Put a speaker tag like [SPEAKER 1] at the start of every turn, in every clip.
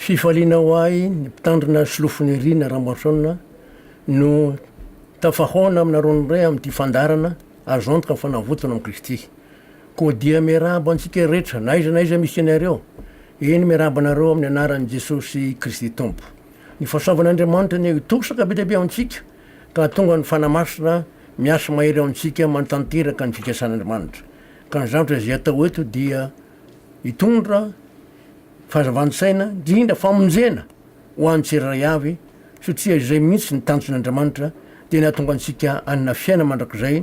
[SPEAKER 1] Fifaliana ho ahy ny mpitandrina solofo Nirina Ramaroson no tafahaona aminareo indray amin'ity fandaharana azo antoka fa navotona amin'i Kristy. Koa dia miarahaba antsika rehetra na aiza na aiza misy anareo, eny miarahaba anareo amin'ny anaran'i Jesosy Kristy Tompo. Ny fahasoavan'Andriamanitra anie hitosaka be dia be amintsika ka hahatonga ny Fanahy Masina miasa mahery ao amintsika manatanteraka ny fikasan'Andriamanitra. Ka ny zavatra izay atao eto dia hitondra fahazavan-tsaina, indrindra famonjena ho an'ny tsirairay avy, satria izay mihitsy ny tanjon'Andriamanitra, dia ny hahatonga antsika hanana fiainana mandrakizay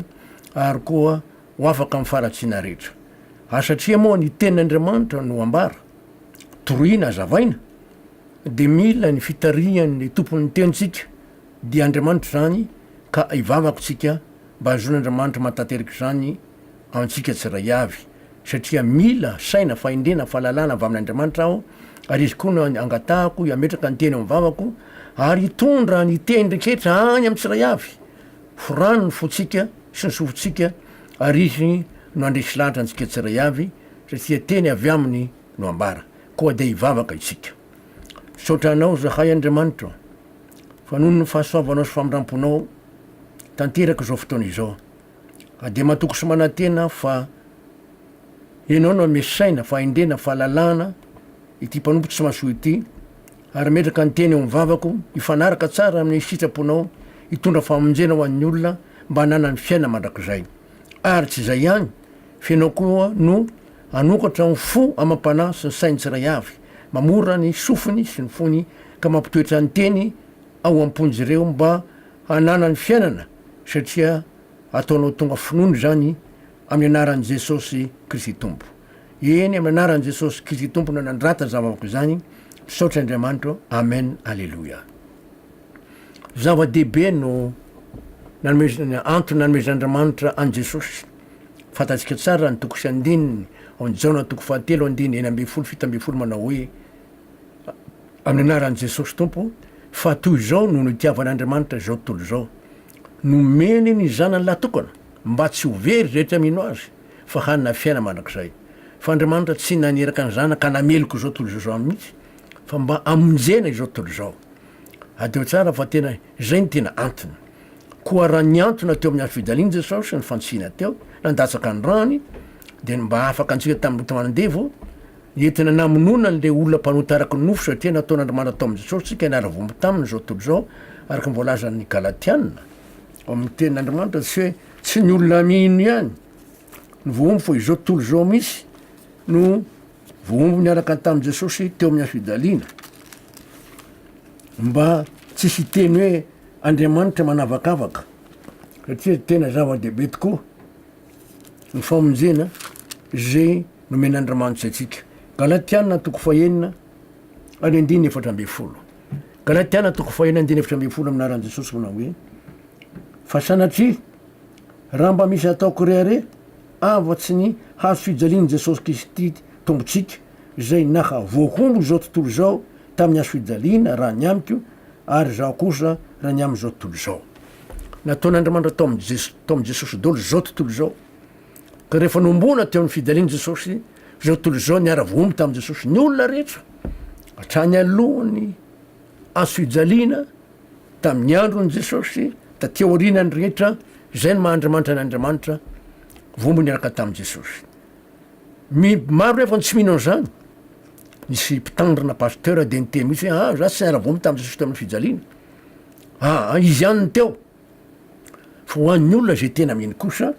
[SPEAKER 1] ary koa ho afaka amin'ny faharatsiana rehetra. Ary satria moa ny Tenin'Andriamanitra no ambara, toroina, azavaina, dia mila ny fitarihan'ny Tompon'ny Tenintsika, dia Andriamanitra izany, ka hivavaka isika mba hahazoan'Andriamanitra mahatateraka izany. antsika tsiray avy, satria mila saina, fahendrena, fahalalana avy amin'Andriamanitra aho, ary Izy koa no angatahako hametraka ny teny ao amin'ny vavako, ary hitondra ny teny rehetra any amin'ny tsiray avy. Forano ny fontsika sy ny sofintsika, ary Izy no handresy lahatra antsika tsiray avy, satria teny avy Aminy no ambara. Koa dia hivavaka isika. Misaotra Anao zahay, Andriamanitra ô, fa noho ny fahasoavanao sy famindram-ponao tanteraka izao fotoana izao. Ka dia matoky sy manantena aho fa Ianao no hanome saina, fahendrena, fahalalahana ity mpanompo tsy mahasoa ity, ary metraka ny teny eo amin'ny vavako hifanaraka tsara amin'ny sitraponao hitondra famonjena ho an'ny olona mba hananany fiainana mandrakizay. Ary tsy izay ihany, fa Ianao koa no hanokatra ny fo amam-panahy sy ny sain'ny tsiray avy, mamorona ny sofiny sy ny fony, ka mampitoetra ny teny ao am-pon'izireo mba hananany fiainana, satria ataonao tonga finoana izany amin'ny anaran'i Jesosy Kristy Tompo. Eny, amin'ny anaran'i Jesosy Kristy Tompo no nandrata izany vavaka izany, misaotra Andriamanitro, Amen, Aleloia. Zava-dehibe no nanomezana, antony nanomezan'Andriamanitra an'i Jesosy. Fantatsika tsara ny toko sy andininy ao amin'ny Jaona toko fahatelo andininy enina ambin'ny folo fito ambin'ny folo manao hoe, amin'ny anaran'i Jesosy Tompo fa toy izao no nitiavan'Andriamanitra izao tontolo izao, nomeny ny Zanany lahytokana mba tsy ho very izay tia mino Azy fa hanana fiainana mandrakizay. Fa Andriamanitra tsy naniraka ny Zanaka hanameloka izao tontolo izao izany mihitsy fa mba hamonjena izao tontolo izao. Adino tsara fa tena izay no tena antony. Koa raha nihantona teo amin'ny hafidaliany Jesosy ny fantsihina teo, nandatsaka ny rany, dia ny mba hahafaka antsika tamin'ny loto aman-devo, Nentina namonoana an'ireo olona mpanota araka ny nofo satria nataon'Andriamanitra tao amin'i Jesosy isika hianara voaomby taminy izao tontolo izao, araka ny voalazan'ny Galatiana. Ao amin'ny Tenin'Andriamanitra tsy hoe tsy ny olona mino ihany no voaomby fa izao tontolo izao mihitsy no voaomby niaraka tamin'i Jesosy teo amin'ny hafijaliana. Mba tsisy hiteny hoe Andriamanitra manavakavaka satria tena zava-dehibe tokoa Ny famonjena izay nomen'Andriamanitra antsika. Galatiana toko fahenina ary andininy efatra ambin'ny folo. Galatiana toko fahenina andininy efatra ambin'ny folo amin'aran'i Jesosy manao hoe fa sanatria raha mba misy ataoko rehareha afa-tsy ny hazo fijalian'i Jesosy Kristy Tompontsika izay naha voahombo izao tontolo izao tamin'ny hazofijaliana raha ny amiko ary izaho kosa raha ny amin'izao tontolo izao. Nataon'Andriamanitra tao amin'i Jesosy, tao amin'i Jesosy daholo izao tontolo izao. Ka rehefa nohomboana teo amin'ny fijalian'i Jesosy, izao tontolo izao niara-voahombo tamin'i Jesosy ny olona rehetra hatrany alohan'ny hazofijaliana tamin'ny andron'i Jesosy taty aoriana ny rehetra izay ny maha Andriamanitra an'Andriamanitra voahombo niaraka tamin'i Jesosy. Ny maro nefa no tsy mino an'izany. Nisy mpitandrina pasteur dia niteny mihitsy hoe ah za tsy niara voa tamin'i Jesosy tamin'ny fijaliana. Ah ah izy ihany no teo. Fa ho an'ny olona izay tena mino kosa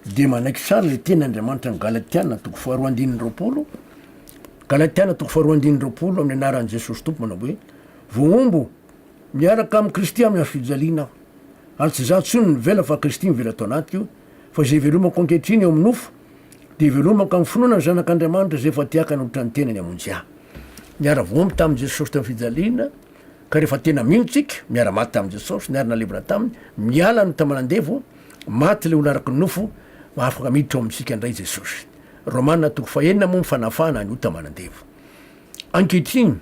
[SPEAKER 1] dia manaiky tsara ilay teny Andriamanitra ny Galatiana toko faharoa andininy roapolo, Galatiana toko faharoa andininy roapolo amin'ny anaran'i Jesosy Tompo manao hoe voahombo miaraka amin'i Kristy amin'ny hazo fijaliana aho. Ary tsy za intsony no mivela fa Kristy mivela ato anatiko. fa izay ivelomako ankehitriny eo amin'ny nofo, dia ivelomako amin'ny finoana ny Zanak'Andriamanitra izay efa tiaka nanotrany ny tenany hamonjy ahy. Niara-voaomby tamin'i Jesosy tamin'ny fijaliana, ka rehefa tena mino isika, miara-maty tamin'i Jesosy, niara-nalevina Taminy, miala ny taman'andevo, maty ilay olona araky ny nofo, afaka miditra ao amintsika indray Jesosy. Romana toko fahenina moa ny fanafahana an'io taman'andevo. Ankehitriny,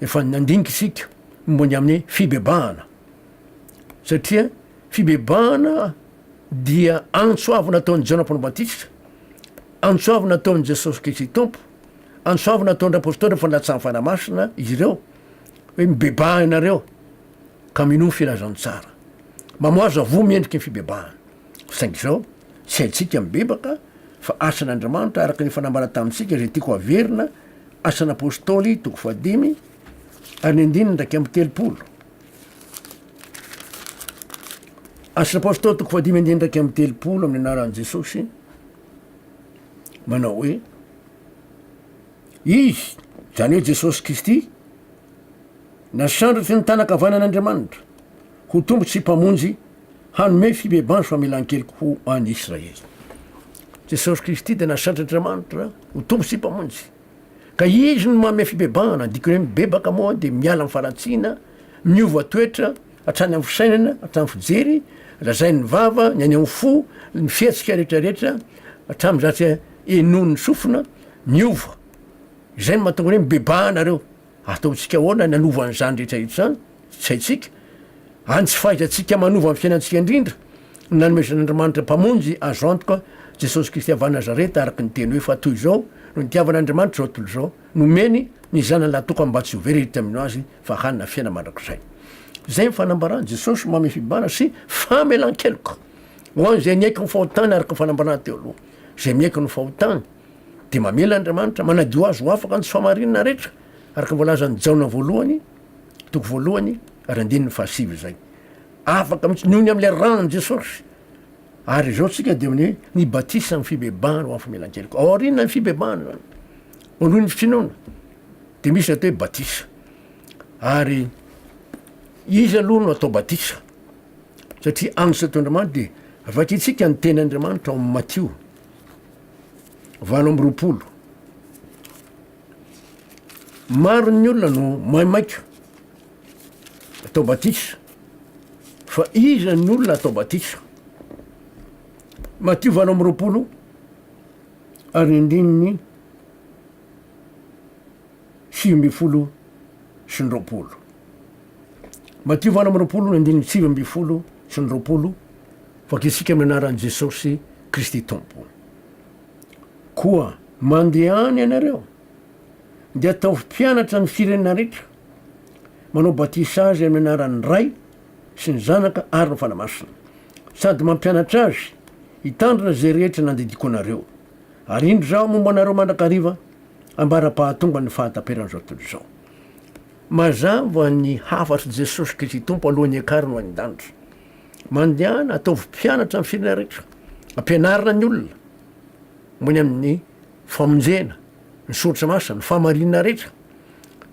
[SPEAKER 1] efa nandinika isika momba ny amin'ny fibebahana. satria fibebahana dia antso avy nataon'i Jaona Mpanao Batisa, antso avy nataon'i Jesosy Kristy Tompo, antso avy nataon'ireo apostoly fandatsahan'ny Fanahy Masina izy ireo hoe mibebaha ianareo ka minoa ny filazantsara. Mamoaza voa miendriky ny fibebahana. Saingy izao, tsy haintsika mibebaka fa asan'Andriamanitra araka ny efa nambara tamintsika izay tiako haverina, Asan'apostoly toko fahadimy ary ny andininy iraika amby telopolo. Asan'ny Apostoly toko fahadimy andininy iraika amby telopolo amin'ny anaran'i Jesosy manao hoe Izy, izany hoe Jesosy Kristy, nasandratry ny tanakavanan'Andriamanitra ho tompo sy mpamonjy hanome fibebanso famelan-keloka ho an'i Israely. Jesosy Kristy dia nasandratr'Andriamanitra ho tompo sy mpamonjy. Ka izy no manome fibebahana, ny dikany hoe mibebaka moa dia miala amin'ny faharatsiana, miova toetra, hatrany amin'ny fisainana, hatramin'ny fijery, lazain'ny vava, ny any amin'ny fo, ny fihetsika rehetrarehetra, hatramin'izay tsy henoin'ny sofina, miova. Izay no mahatonga ny hoe mibebaha nareo. Ataontsika ahoana ny hanova an'izany rehetra izany? Tsy haintsika. Any tsy fahaizantsika manova ny fiainantsika indrindra. Nanomezan'Andriamanitra Mpamonjy azo antoka, Jesosy Kristy avy any Nazareta, araka ny Teny hoe, fa toy izao no nitiavan'Andriamanitra izao tontolo izao, nomeny ny Zanany lahitokana mba tsy ho very hiditra mino Azy, fa hanana fiainana mandrakizay. Izay ny fanambaran'i Jesosy manome fibahana sy famelan-keloka ho an'izay niaiky ny fahotany araka ny fanambarana teo aloha. Izay miaiky ny fahotany. Dia mamela Andriamanitra manadio azy ho afaka amin'ny fahamarinana rehetra, araka ny voalazan'i Jaona voalohany, toko voalohany ary andininy fahasivy izay. Afaka mihitsy noho ny amin'ilay ran'i Jesosy. Ary izao tsika dia amin'ny hoe ny batisa amin'ny fibebahana ho amin'ny famelan-keloka. Aoriana ny fibebahana izany. Voalohany ny finoana. Dia misy atao hoe batisa. Ary iza aloha no atao batisa? Satria ansa toy Andriamanitra dia avy aty tsika ny tenin'Andriamanitra ao amin'ny Matio. valo amby roapolo. Maro ny olona no maimaika atao batisa fa iza ny olona atao batisa? Matio valo amby roapolo ary andininy sivy ambin'ny folo sy ny roapolo. Matio valo amby roapolo andininy sivy ambin'ny folo sy ny roapolo, Vakisika amin'ny anaran'i Jesosy Kristy Tompo. Koa mandehana ianareo, dia ataovy mpianatra ny firenena rehetra, manao batisa azy amin'ny anaran'ny Ray sy ny Zanaka ary ny Fanahy Masina, sady mampianatra azy hitandrina izay rehetra nandidiako anareo. Ary indro izaho momba anareo mandrakariva. ambara-pahatonga ny fahataperan'izao tontolo izao. Mazava ny hafatry Jesosy Kristy Tompo alohan'ny hiakarany ho any an-danitra. Mandehana, ataovy mpianatra ny firenena rehetra. Ampianarina ny olona mony amin'ny famonjena, ny soratra masina, ny fahamarinana rehetra.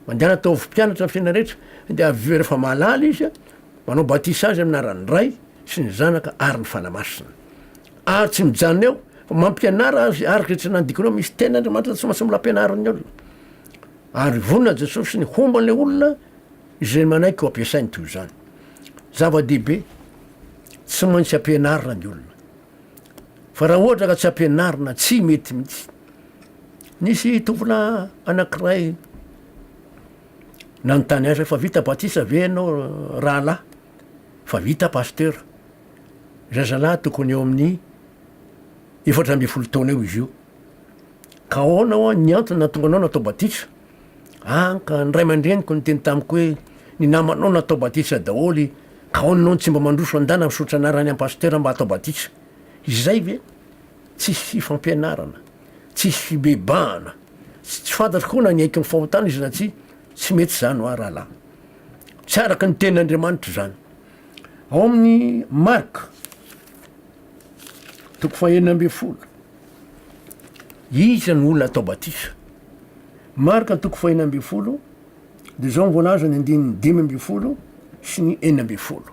[SPEAKER 1] Mandehana ataovy mpianatra ny firenena rehetra, dia avy eo rehefa mahalala izy, manao batisa azy amin'ny anaran'ny Ray sy ny Zanaka ary ny Fanahy Masina. Ary tsy mijanona eo fa mampianara azy ary zay tsy nandikonao misy teny Andriamanitra tsy maintsy mila ampianariny olona. Ary vonona Jesosy ny homba ilay olona izay manaiky ho ampiasainy toy izany. Zava-dehibe, tsy maintsy ampianarina ny olona. Fa raha ohatra ka tsy ampianarina, tsy mety mihitsy. Nisy tompona anankiray nanontany azy fa vita batisa ve ianao rahalahy? Fa vita pasteur. Zazalahy tokony eo amin'ny efatra ambin'ny folo taona eo izy io. Ka ahoana hoa ny antony nahatonga anao natao batisa? Ah, ka ny ray aman-dreniko niteny tamiko hoe, Ny namanao natao batisa daholo, ka ahoana ianao no tsy mba mandroso an-dana misaotra anarana ihany pasitera mba hatao batisa? Izay ve? Tsisy fifampianarana, tsisy fibebahana, tsy tsy fantatro koa na niaiky ny fahotana izy na tsia, tsy mety izany hoa rahalahy. Tsy araka ny tenin'Andriamanitra izany. Ao amin'ny Marka toko fahenina ambin'ny folo, iza no olona atao batisa? Marka toko fahenina ambin'ny folo, dia izao ny voalaza ny andininy dimy ambin'ny folo sy ny enina ambin'ny folo.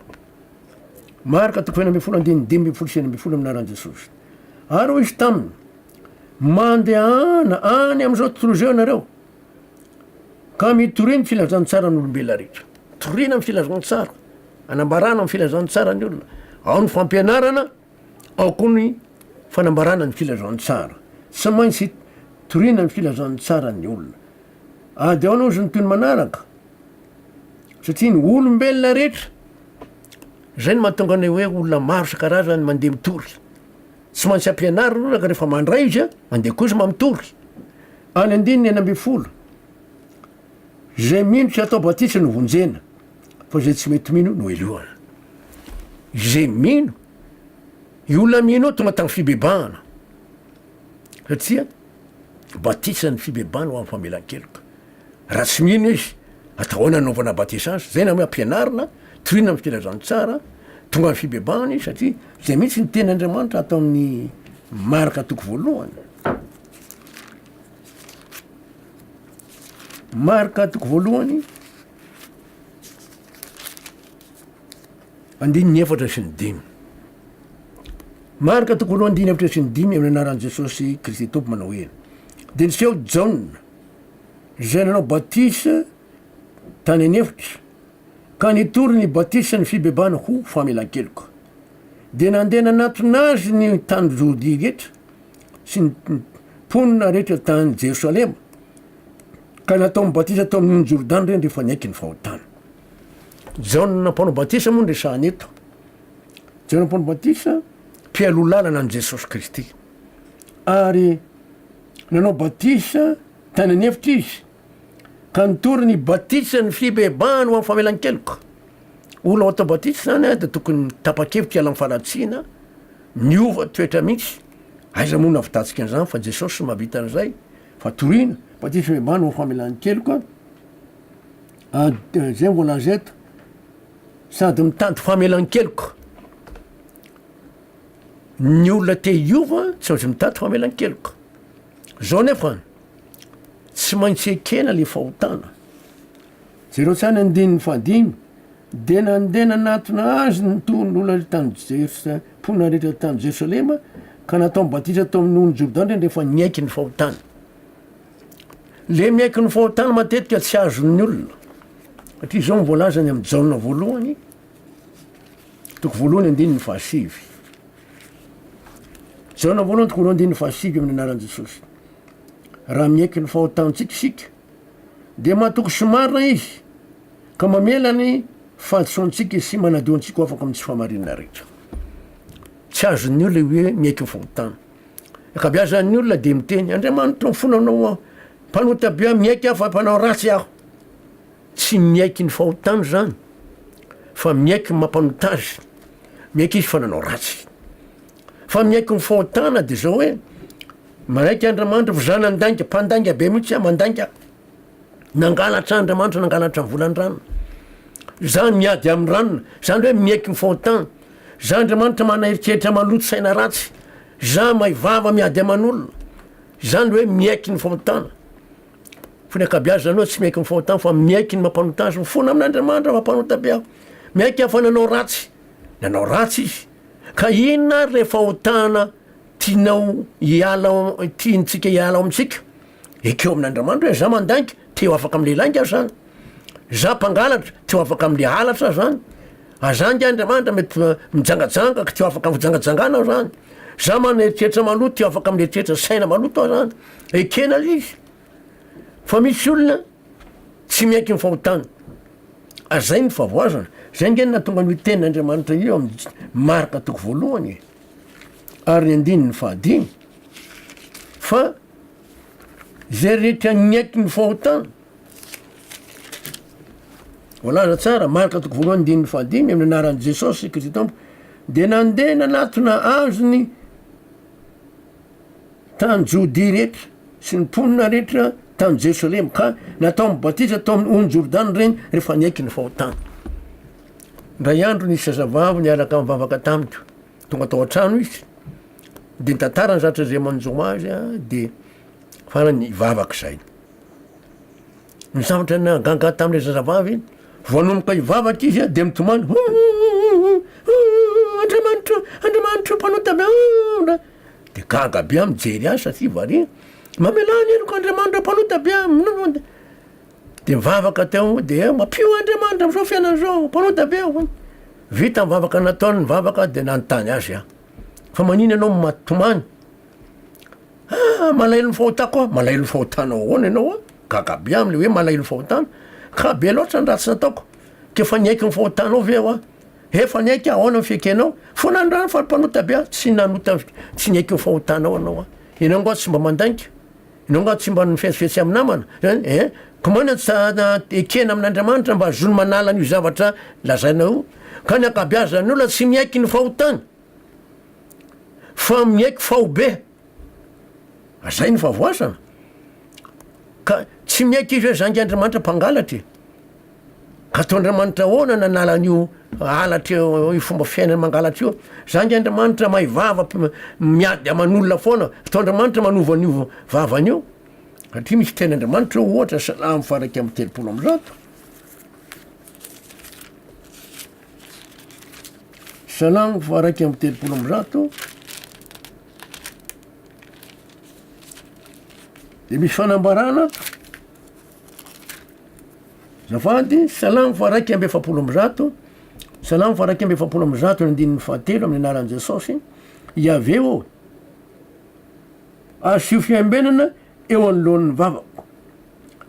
[SPEAKER 1] Marka toko fahenina ambin'ny folo andininy dimy ambin'ny folo sy enina ambin'ny folo amin'aran'i Jesosy. Ary hoy izy taminy, Mandehana any amin'izao tontolo izao ianareo, Ka mitoria ny filazantsaran'olombelona rehetra. Toriana ny filazantsara, anambarana ny filazantsara ny olona. Ao ny fampianarana, ao koa ny fanambarana ny filazantsara. Tsy maintsy toriana ny filazantsara ny olona. Ady ao aloha ny toy ny manaraka, satria ny olombelona rehetra, zay no mahatonga ny hoe olona maro isan-karazany mandeha mitory. Tsy maintsy ampianarina aloha ka rehefa mandray izy a, mandeha koa izy mamitory. Any andininy enina ambin'ny folo, Izay mino tsy atao batisa no vonjena, fa izay tsy mety mino no helohana. Izay mino, io olona mino io tonga tamin'ny fibebahana, satria batisa ny fibebahana ho amin'ny famelan-keloka. Raha tsy mino izy, atao ahoana ny anaovana batisa azy? Zay namay ampianarina, toriana amin'ny filazan'ny tsara, tonga amin'ny fibebahana izy satria zay mihitsy ny teny Andriamanitra ato amin'ny Marka toko voalohany. Marka toko voalohany, andininy efatra sy ny dimy. Marka toko voalohany andininy efatra sy ny dimy amin'ny anaran'i Jesosy Kristy Tompo manao hoe, dia niseho Jaona izay nanao batisa tany an'efitra, ka nitory ny batisan'ny fibebahana ho famelan-keloka. Dia nandeha nanatona azy ny tany Jodia rehetra sy ny mponina rehetra tany Jerosalema, ka nataony batisa tao amin'iny Jordana ireny rehefa niaiky ny fahotany. Jaona mpanao batisa moa no resahana eto. Jaona mpanao batisa mpialoha lalana an'i Jesosy Kristy, ary Nanao batisa tany an'efitra izy, ka nitory ny batisa ny fibebahany ho amin'ny famelan-keloka. Olona atao batisa izany dia tokony tapa-kevitra hiala amin'ny faharatsiana, miova toetra mihitsy. Aiza moa no nahavitantsika an'izany fa Jesosy no mahavita an'izay, fa toriana. Batisa fibebahana ho amin'ny famelan-keloka, dia izay no voalaza eto, sady mitady famelan-keloka. Ny olona te hiova tsy aozy mitady famelan-keloka. Zao nefa tsy maintsy ekena le fahotana. Jereo tsara ny andininy fahadimy, de nandeha nanatona azy ny tohin'olona rehetra tany Jersa, mponina rehetra tany Jerosalema, ka nataony batisa tao amin'ny nohon'i Jordana rehefa niaiky ny fahotany. Le miaiky ny fahotany matetika tsy azon'ny olona, satria zao ny voalazany amin'ny Jaona voalohany, Toko voalohany andininy fahasivy. Jaona voalohany toko roa andininy fahasivy amin'ny anaran'i Jesosy. Raha miaiky ny fahotantsika isika, dia matoky sy marina izy ka mamela ny fahadisoantsika sy manadio antsika ho afaka amin'ny tsy fahamarinana rehetra. Tsy azon'ny olona hoe miaiky ny fahotana. Akabeazan'ny olona dia miteny, Andriamanitro, mifonanao aho. Mpanota be aho, miaiky aho fa mpanao ratsy aho. Tsy miaiky ny fahotany izany fa miaiky ny mampanota azy, miaiky izy fa nanao ratsy. Fa miaiky ny fahotana dia izao hoe manaiky Andriamanitra fa za nandainga, mpandainga be mihitsy aho, mandainga, nangalatra Andriamanitra, nangalatra ny volan-dranony, za miady amin'ny ranony, izany hoe miaiky ny fahotany, za Andriamanitra manana eritreritra maloto, saina ratsy, za mahay vava miady aman'olona, izany hoe miaiky ny fahotana. Fa ny ankabiazany aloha tsy miaiky ny fahotany fa miaiky ny mampanota azy, mifona amin'Andriamanitra fa mpanota be aho. Miaiky aho fa nanao ratsy, nanao ratsy izy. Ka inona ary le fahotana tianao hiala ao, tiantsika hiala ao amintsika? Ekeo amin'Andriamanitra hoe za mandainga, te ho afaka am'le lainga aho zany. Za mpangalatra, te ho afaka am'le halatra aho zany. A za nge Andriamanitra mety mijangajanga ka te ho afaka am'fijangajangana aho zany. Za maneritreritra maloto, te ho afaka am'le toetra saina maloto aho zany. Ekena le izy fa misy olona tsy miaiky ny fahotany ary zay ny favoazana, zay nge nahatonga an'io tenin'Andriamanitra io amin'ny Marka toko voalohany e, ary ny andininy fahadimy fa zay rehetra niaiky ny fahotany Voalaza tsara, Marka toko voalohany andininy fahadimy, amin'ny anaran'i Jesosy Kristy Tompo, dia nandeha nanatona azy ny tany Jodia rehetra, sy ny mponina rehetra tany Jerosalema, ka nataony batisa tao amin'ny ony Jordana ireny rehefa niaiky ny fahotany. Indray andro nisy zazavavy niaraka nivavaka tamiko, tonga tao an-trano izy, dia nitantara ny zatra izay manjo azy, dia farany nivavaka izay. Ny zavatra nahagaga tamin'ilay zazavavy iny, vao nanomboka hivavaka izy dia mitomany, Ho ho ho ho ho Andriamanitro o, Andriamanitro o, Mpanota be o o o. Dia gaga be aho mijery azy satria variana. Mamelà ny heloko Andriamanitro o, Mpanota be o. Dia nivavaka teo dia mampio Andriamanitra am'zao fiainana zao, Mpanota be o. Vita ny vavaka nataony, nivavaka dia nanontany azy aho, Fa manina ianao no maty tomany? Ah! malahelo ny fahotako ah! malahelo ny fahotanao ahoana ianao a! gaga be am'le hoe malahelo ny fahotana ka be loatra ny ratsy nataoko k'efa niaiky ny fahotanao ve aho a! efa niaiky aho ahoana ny fiekenao fa nandrara fa mpanota be aho tsy nanota tsy niaiky ny fahotanao anao a! ianao nga tsy mba mandainga ianao nga tsy mba nifetsifetsy amy namana zany eh! ko moa na tsa na ekena amin'Andriamanitra mba azony manala an'io zavatra lazainao io ka ny ankabeazan'ny olona tsy miaiky ny fahotany fa miaiky faobe azay ny favoazana ka tsy miaiky izy hoe zangy andriamanitra mpangalatra e ka atao andriamanitra ahoana nanala an'io halatra io fomba fiainana mangalatra io zangy andriamanitra mahay vava miady aman'olona foana atao andriamanitra manova an'io vavan'io satria misy teny andriamanitra ohatra salamo faraika amin'ny telopolo am'zato Salamo faha-iraika amby telopolo amby zato dia misy fanambarana ato. Zafady, salamo faha-iraika amby efapolo amby zato, salamo faha-iraika amby efapolo amby zato ny andininy fahatelo amin'ny anaran'i Jesosy, Iaveh ô, asio fiambenana eo anoloan'ny vavako,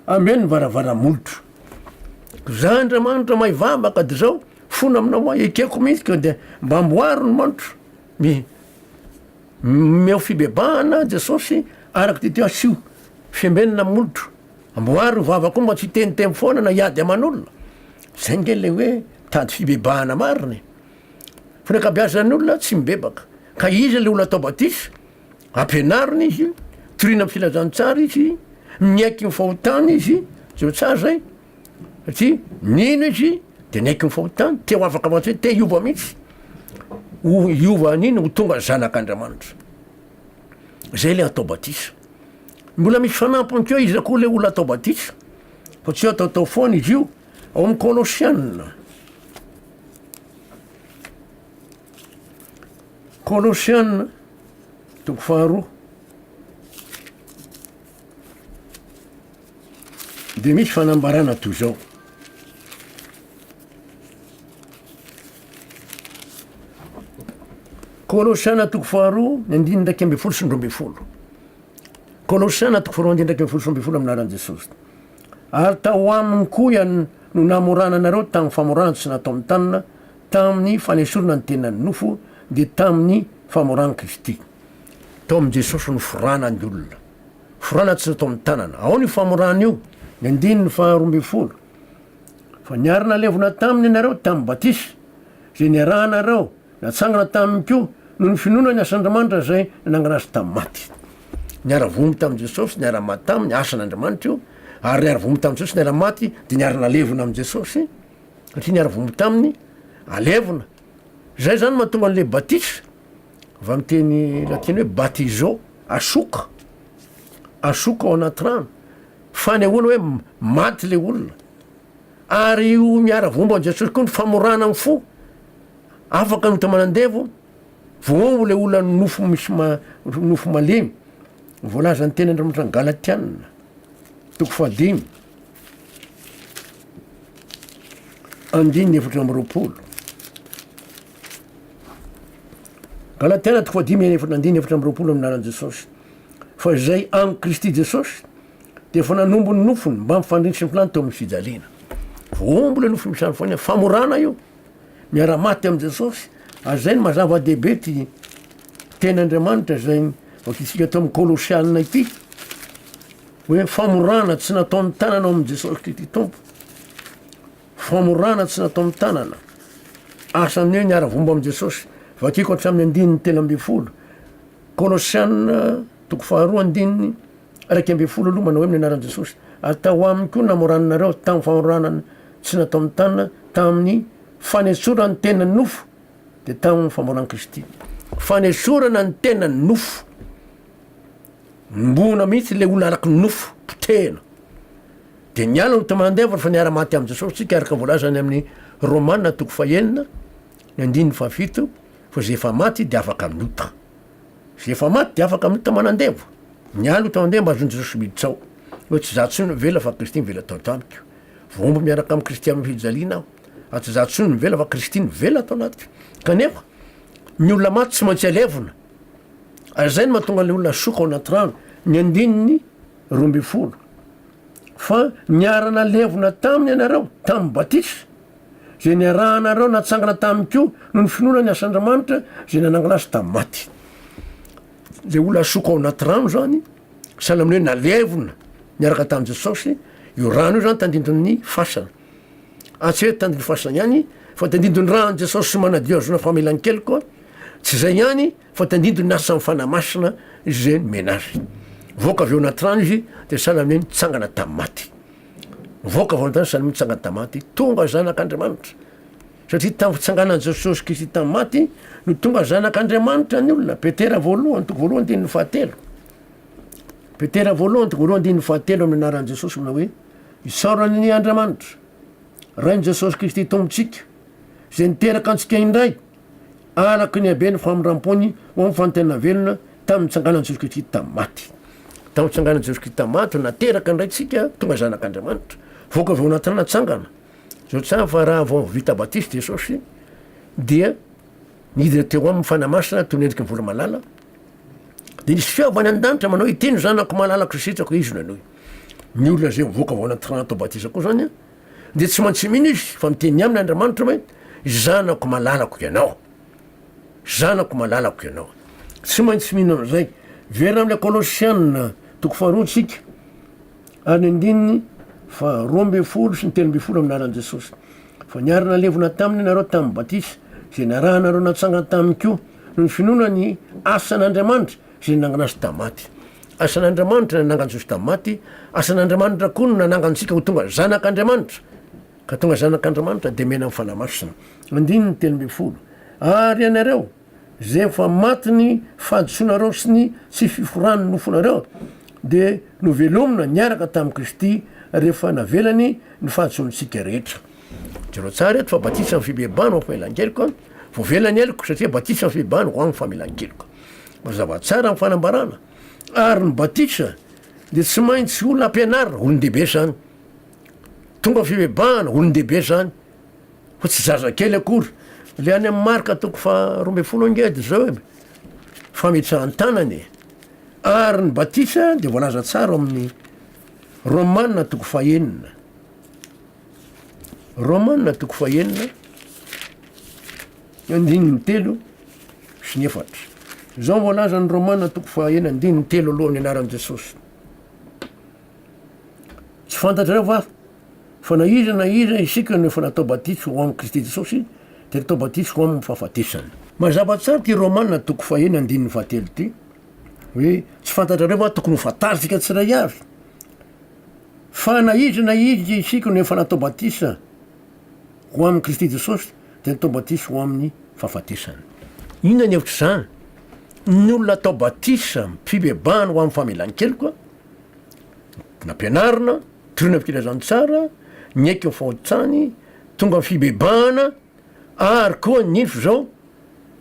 [SPEAKER 1] ameo ny varavaramolotro. Za Andriamanitra mahay vavaka de zao fona aminao aho ekeko mihitsy ka de mba amboaro ny manotro mi- meo fibebahana Jesosy araka ty teo asio fiambenana amin'ny molotro amboaro ny vavako mba tsy hiteniteny foana na hiady aman'olona zay nge le hoe mitady fibebahana marina e fa ny akabeazan'ny olona tsy mibebaka ka iza le olona atao batisa Ampianarina izy, toriana amin'ny filazantsara izy, miaiky ny fahotany izy, tsy ho tsara zay satria nino izy de niaiky ny fahotany, te ho afaka ho antsika, te hiova mihitsy, ho hiova hanino ho tonga zanak'Andriamanitra. Zay le atao batisa. Mbola misy fanampiny koa iza koa le olona atao batisa fa tsy ataotao foana izy io ao amin'ny Kolosiana. Kolosiana, toko faharoa. Dia misy fanambarana toy izao. Kolosiana toko faharoa, ny andininy iraika ambin'ny folo sy ny roa ambin'ny folo. Kolosiana toko faharoa, andininy iraika ambin'ny folo sy roa ambin'ny folo amin'ny lalan'i Jesosy. Ary tao aminy koa ian- no namorana anareo tamin'ny famorana tsy nataon'ny tanana, Tamin'ny fanesorana ny tenan'ny nofo dia tamin'ny famoran'i Kristy. Tao amin'i Jesosy no forana ny olona. Forana tsy tao amin'ny tanana. Ao ny famorana io, ny andininy faharoa ambin'ny folo. Fa niara-nalevina taminy ianareo tamin'ny batisa, izay niarahanareo natsangana taminy koa noho ny finoana ny asan'Andriamanitra izay nanangana azy tamin'ny maty. Niara-vomy tamin'i Jesosy, niara-maty taminy, asan'Andriamanitra io, ary niara-vomy tamin'i Jesosy, niara-maty, dia niara-nalevina amin'i Jesosy. satria ny arivony taminy alevina, zay zany mahatonga an'le batisa avy amin'ny teny latina hoe batizo asoka, asoka ao anaty rano, fanehoana hoe maty le olona, ary io miaravomba an'i Jesosy koa ny famorana ny fo, afaka ny ota manandevo, voaombo le olona ny nofo misy ma- nofo malemy, voalazan'ny teny Andriamanitra any Galatiana toko fahadimy. Andininy efatra amby roapolo. Galatia toko fahadimy eny efatra andininy efatra amby roapolo amin'ny lalan'i Jesosy. Fa izay amin'i Kristy Jesosy dia efa nanombo ny nofony mba mifandrintsy ny filany teo amin'ny fijaliana. Vohombo ilay nofo misy fania, famorana io. Miara-maty amin'i Jesosy. Ary izay no mazava dehibe ty teny Andriamanitra izay vakitsika teo amin'ny Kolosianina ity. Hoe famorana tsy natao amin'ny tanana ao amin'i Jesosy Kristy Tompo. Famorana tsy natao amin'ny tanana. Asan'ny hoe niara-vomba amin'i Jesosy. Vakiko hatramin'ny andininy telo ambin'ny folo. Kolosiana toko faharoa andininy iraika ambin'ny folo aloha manao hoe amin'ny anaran'i Jesosy. Ary tao aminy koa namorananareo tamin'ny famorana tsy natao amin'ny tanana tamin'ny fanesorana ny tenan'ny nofo dia tamin'ny famoran'i Kristy. Fanesorana ny tenan'ny nofo. Mimbona mihitsy ilay olona araka ny nofo, potehina. Dia niala ny Témoin d'Œuvre fa niara-maty amin'i Jesosy isika araka voalaza any amin'ny Romana toko fahenina, ny andininy fahafito, fa izay efa maty dia afaka amin'ny ota. Izay efa maty dia afaka amin'ny ota manandevo. Niala ota mandeha mba azon'i Jesosy miditra ao. Hoe tsy izaho intsony mivela fa Kristy mivela ato an-tranoko. Voahombo miaraka amin'i Kristy amin'ny fijaliana aho. Fa tsy izaho intsony mivela fa Kristy mivela ato anatiko. Kanefa, ny olona maty tsy maintsy alevina. Ary izay no mahatonga ilay olona soka ao anaty rano, ny andininy roa ambin'ny folo. Fa niara-nalevona taminy ianareo, tamin'ny batisa, izay niarahanareo natsangana taminy koa noho ny finoana ny asan-dRamanitra izay nanangana azy tamin'ny maty. Ilay olona soka ao anaty rano izany, sahala amin'ny hoe nalevona niaraka tamin'i Jesosy, io rano io izany tandindon'ny fasana. Hatseto tany Befasagna ihany fa tandindon'ny ran'i Jesosy manadio azona famelan-keloka aho. Tsy izay ihany fa tandindon'ny hasan'ny Fanahy Masina izay nomena azy. Voaka avy ao anaty rano izy dia sahala amin'ny hoe nitsangana tamin'ny maty. Voaka avy ao an-tany sahala amin'ny hoe nitsangana tamin'ny maty. Tonga zanak'Andriamanitra. Satria tamin'ny fitsanganan'i Jesosy Kristy tamin'ny maty no tonga zanak'Andriamanitra ny olona. Petera voalohany toko voalohany andininy fahatelo. Petera voalohany toko voalohany andininy fahatelo amin'ny anaran'i Jesosy manao hoe Isaoran'ny Andriamanitra, Rain'i Jesosy Kristy Tompontsika, izay niteraka antsika indray araka ny haben'ny famindram-pony ho amin'ny fanontaniana velona tamin'ny nitsanganan'i Jesosy Kristy tamin'ny maty. Tamin'ny nitsanganan'i Jesosy Kristy tamin'ny maty, nateraka indray tsika, tonga zanak'Andriamanitra, voaka avy ao anatin'ny natsangana. Zao tsara fa raha vao vita batisa Jesosy dia Nidina teo aminy fanahy masina toy ny endrika vola malala, dia nisy feo avy any an-danitra manao hoe, Ity ny zanako malalako izay sitrako, izy no henoy. Ny olona izay mivoaka avy ao anaty rano atao batisa koa izany dia tsy maintsy mino izy fa miteny aminy Andriamanitra hoe, Zanako malalako ianao. Zanako malalako ianao. Tsy maintsy mino an'izay. Very amin'ilay Kolosiana toko faharoa isika. Ary ny andininy faha roa ambin'ny folo sy ny telo ambin'ny folo amin'ny anaran'i Jesosy. Fa niarina nalevina taminy ianareo tamin'ny batisa, izay niarahanareo natsangana taminy koa, noho ny finoana ny asan'Andriamanitra izay nanangana azy tamin'ny maty. Asan'Andriamanitra no nanangana Jesosy tamin'ny maty, asan'Andriamanitra koa no nanangana antsika ho tonga zanak'Andriamanitra, ka tonga zanak'Andriamanitra dia mena amin'ny Fanahy Masina. Andininy telo ambin'ny folo. Ary ianareo, Rehefa maty ny fahadisoanareo sy ny tsy fiforan'ny nofonareo, dia novelomina niaraka tamin'i Kristy rehefa navelany ny fahadisoantsika rehetra. Jereo tsara eto fa batisa amin'ny fibebahana ho amin'ny famelan-keloka, voavela ny heloko satria batisa amin'ny fibebahana ho amin'ny famelan-keloka. Mazava tsara amin'ny fanambarana. Ary ny batisa dia tsy maintsy olona ampianarina, olon-dehibe izany. Tonga fibebahana, olon-dehibe izany. Fa tsy zazakely akory le any amin'ny marika toko faha roa ambin'ny folo angedy zao e, fametsahan-tanana e. Ary ny batisa dia voalaza tsara ao amin'ny Romana toko fahenina, Romana toko fahenina andininy telo sy ny efatra. Zao ny voalazan'ny Romana toko fahenina andininy telo aloha ny anaran'i Jesosy. Tsy fantatrareo va Fa na iza na iza isika no efa natao batisa ho amin'i Kristy Jesosy dia natao batisa ho amin'ny fahafatesany. Mazava tsara ity Romana toko fahiny andininy fahatelo ity hoe tsy fantatrareo va tokony ho fantarintsika tsiray avy fa na iza na iza isika no efa natao batisa ho amin'i Kristy Jesosy dia natao batisa ho amin'ny fahafatesany. Inona ny hevitr'izany? Ny olona atao batisa amin'ny fibebahana ho amin'ny famelan-keloka, nampianarina, Toroy ny filazantsara, niaiky ny fahotsany, tonga ny fibebahana, ary koa ny info izao,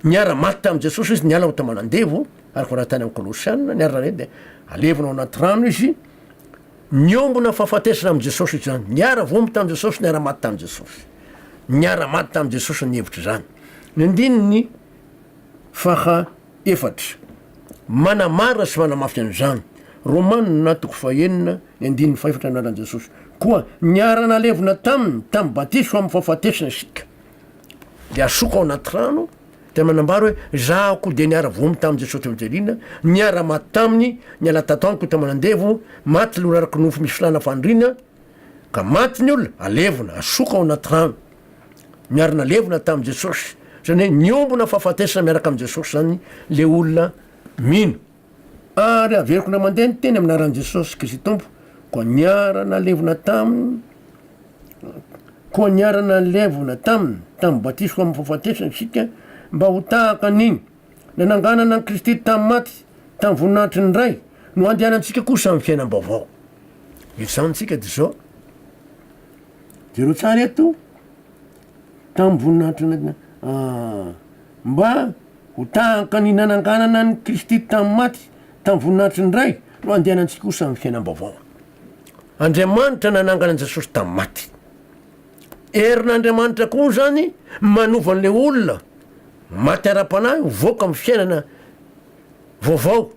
[SPEAKER 1] niara-maty tamin'i Jesosy izy, niala ho taman'andevo, araka voalaza tany amin'ny Kolosiana, niara re dia alevina ao anaty rano izy, niombona fahafatesana amin'i Jesosy izany, niara-voaomby tamin'i Jesosy, niara-maty tamin'i Jesosy, niara-maty tamin'i Jesosy ny hevitr'izany. Ny andininy faha efatra. Manamara sy manamafy an'izany. Romana toko fahenina, ny andininy fahefatra Anaran'i Jesosy koa niara-nalevina taminy tamin'ny batiso amin'ny fahafatesana isika. Dia asoko ao anaty rano, dia manambara hoe, Izaho koa dia niara-voaomby tamin'i Jesosy teo an-tseliana, niara-maty taminy, niala tato amiko teo aman'andevo, maty ny olona araka ny nofo misy filàna faniriana, ka maty ny olona, alevina, asoko ao anaty rano. niarina levona tamin'i Jesosy, izany hoe niombona fahafatesana miaraka amin'i Jesosy izany ilay olona mino. Ary averiko indray mandeha ny teny amin'ny anaran'i Jesosy Kristy Tompo, koa niarana levona taminy, koa niarana levona taminy, tamin'ny batisiko amin'ny fahafatesana isika, mba ho tahaka an'iny nananganana an'i Kristy tamin'ny maty, tamin'ny voninahitry ny Ray, no andehanantsika kosa amin'ny fiainam-baovao. Izany isika dia izao. Jereo tsara eto, tamin'ny voninahitry ny anaty na- mba ho tahaka ny nananganana an'i Kristy tamin'ny maty tamin'ny voninahitry ny Ray no andehanantsika ho samy fiainam-baovao. Andriamanitra nanangana an'i Jesosy tamin'ny maty. Herin'Andriamanitra koa izany manova an'ilay olona maty ara-panahy ho voaka amin'ny fiainana vaovao.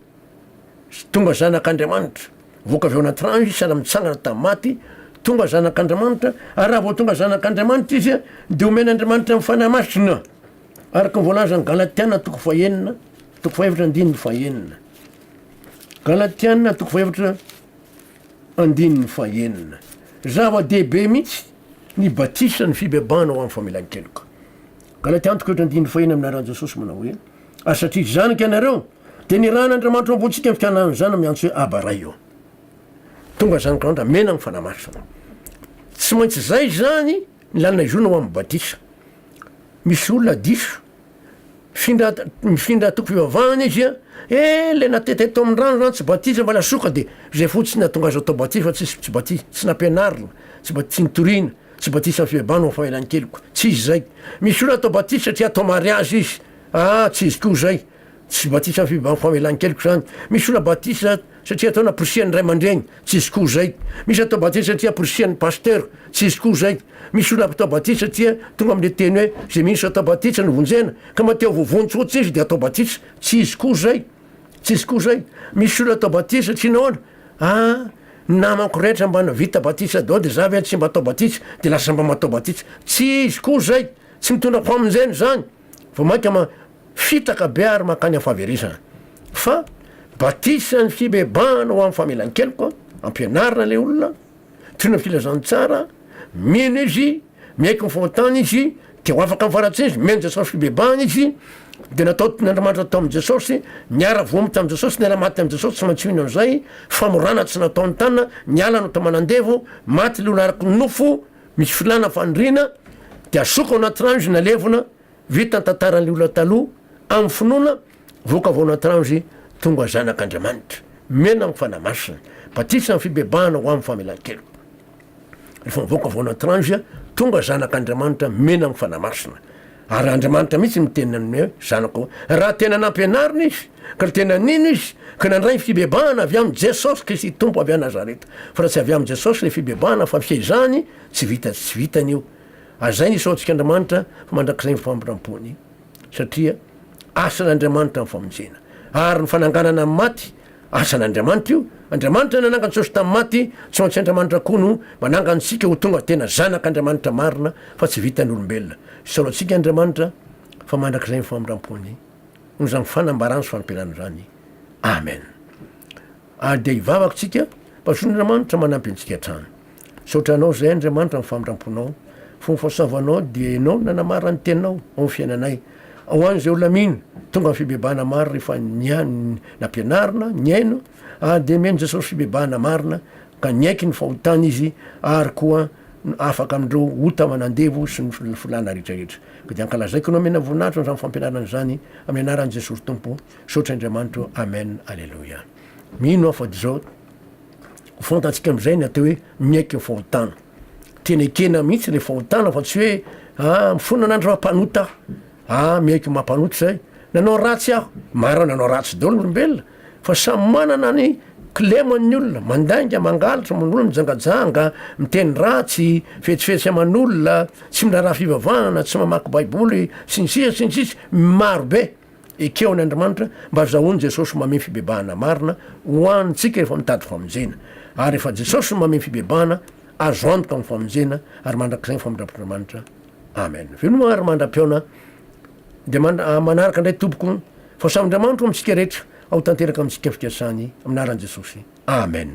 [SPEAKER 1] Sy tonga zanak'Andriamanitra. Voaka avy ao anaty rano izy, sahala mitsangana tamin'ny maty, tonga zanak'Andriamanitra, ary raha vao tonga zanak'Andriamanitra izy, dia omen'Andriamanitra ny Fanahy Masina, araka ny voalazan'ny Galatiana toko fahenina, toko fahefatra andininy fahenina. Galatiana toko fahefatra andininy fahenina. Zava-dehibe mihitsy ny batisa, ny fibebahana ho amin'ny famelan-keloka. Galatiana toko fahefatra andininy fahenina amin'ny anaran'i Jesosy manao hoe, Ary satria izany ka ianareo, dia nirahin' Andriamanitra ao am-pontsika ny fiananana izany miantso hoe Aba Ray ô. Tonga izany ka ndra mena ny Fanahy Masina. Tsy maintsy izay izany ny lalana hizorana ho amin'ny batisa. Misy olona diso, mifindra mifindra toko fivavahana izy an, he ilay natety hatao amin'ny rano izany tsy batisa fa lasoka dia izay fotsiny hahatonga azy atao batisa fa tsisy tsy batisa tsy nampianarina, tsy ba- tsy nitoriana, tsy batisa amin'ny fibebahana ho fahelan'ny keloka, tsy izy izay. Misy olona atao batisa satria atao mariazy izy. Ah tsy izy koa izay. Tsy batisa ny fibahan famelan-keloka izany. Misy olona batisa satria atao naporisihan'ny ray aman-dreny. Tsy izy koa izay. Misy atao batisa satria aporisihan'ny pasteur. Tsy izy koa izay. Misy olona atao batisa satria tonga amin'ilay teny hoe izay mino sy atao batisa no vonjena. Ka mahatea ho voavonjy fotsiny izy dia atao batisa. Tsy izy koa izay. Tsy izy koa izay. Misy olona atao batisa satria nahoana? Ah ny namako rehetra mba vita batisa daholo dia za ve tsy mba atao batisa dia lasa mba matao batisa. Tsy izy koa izay. Tsy mitondra famonjena izany. vao mainka ma fitaka be ary mankany amin'ny fahaverezana. Fa batisa ny fibebahana ho amin'ny famelan-keloka, ampianarina ilay olona, toy ny filazantsara, mino izy, miaiky ny fahotany izy, dia ho afaka amin'ny faharatsiana izy, mihaino Jesosy fibebahana izy, dia natao toy ny Andriamanitra tao amin'i Jesosy, niara-voaomby tamin'i Jesosy, niara-maty tamin'i Jesosy, tsy maintsy mino an'izay, famorana tsy natao ny tanana, niala ny ota aman'andevo, maty ilay olona araky ny nofo, Misy filana faniriana dia asoko ao anaty ranjo na levona vita ny tantaran'ilay olona taloha amin'ny finoana voaka avy ao anaty ranjo tonga zanak'Andriamanitra miaina amin'ny Fanahy Masina batisa amin'ny fibebahana ho amin'ny famelan-keloka rehefa mivoaka avy ao anaty ranjo tonga zanak'Andriamanitra miaina amin'ny Fanahy Masina Ary Andriamanitra mihitsy no miteny aminy hoe, Zanako. Raha tena nampianarina izy, ka tena nino izy, ka nandray ny fibebahana avy amin'i Jesosy Kristy Tompo avy any Nazareta. Fa raha tsy avy amin'i Jesosy ilay fibebahana fa fihezahany, tsy vita tsy vitany io. Azay ny isaontsika Andriamanitra fa mandrakizay ny famindram-pony, satria asan'Andriamanitra ny famonjena. Ary ny fananganana ny maty, Asan'Andriamanitra io. Andriamanitra nanangany Jesosy tamin'ny maty, tsy maintsy Andriamanitra koa no manangany isika ho tonga tena zanak'Andriamanitra marina fa tsy vitan'olombelona. Hisaola antsika Andriamanitra fa mandrakizay ny famindram-pony. Noho izany fanambarana sy fanampianana izany. Amen. Ary dia hivavaka isika, Pasohan'Andriamanitra manampy antsika hatrany. Misaotra Anao izay Andriamanitra amin'ny famindramponao. Fony fahasoavanao dia Ianao no nanamara ny Teninao ao amin'ny fiainanay. Ho an'izay olona mino, tonga amin'ny fibebahana maro rehefa nihaino ny nampianarina, nihaino, ary dia mihaino Jesosy fibebahana marina ka niaiky ny fahotany izy ary koa afaka amin'ireo ota aman'andevo sy ny filàna rehetrarehetra. Ka dia ankalazaiko Anao omena voninahitra izany fampianarana izany amin'ny anaran'i Jesosy Tompo. Misaotra Andriamanitro. Amen. Aleloia. Mino aho fa dia izao. fantatsika amzay ny atao hoe miaiky ny fahotana, tena ekena mihitsy le fahotana fa tsy hoe ah mifona anah ndry mampanota ah, ah miaiky ny maha mpanota zay, nanao ratsy aho, maro nanao ratsy daholo ny olombelona fa samy manana ny kilemany ny olona, mandainga, mangalatra, manolo, mijangajanga, miteny ratsy, fetsifetsy aman'olona, tsy miraharaha fivavahana, tsy mamaky baiboly, sy ny sisa sy ny sisa, maro be. Ekeo an' Andrimanitra mba zahoany Jesosy mamey fibebahana marina ho an tsika efa mitady famonjena. Ary efa Jesosy no mamey fibebahana, azo antoka ny famonjena ary mandrakizay ny famindram-potr'Andrimanitra. Amen. Veloma ry mandra-pihaona dia mand manaraka indray tompoko fa samy Andriamanitro amintsika rehetra ao tanteraka amintsika ny fikasany amin' aran' Jesosy. Amen.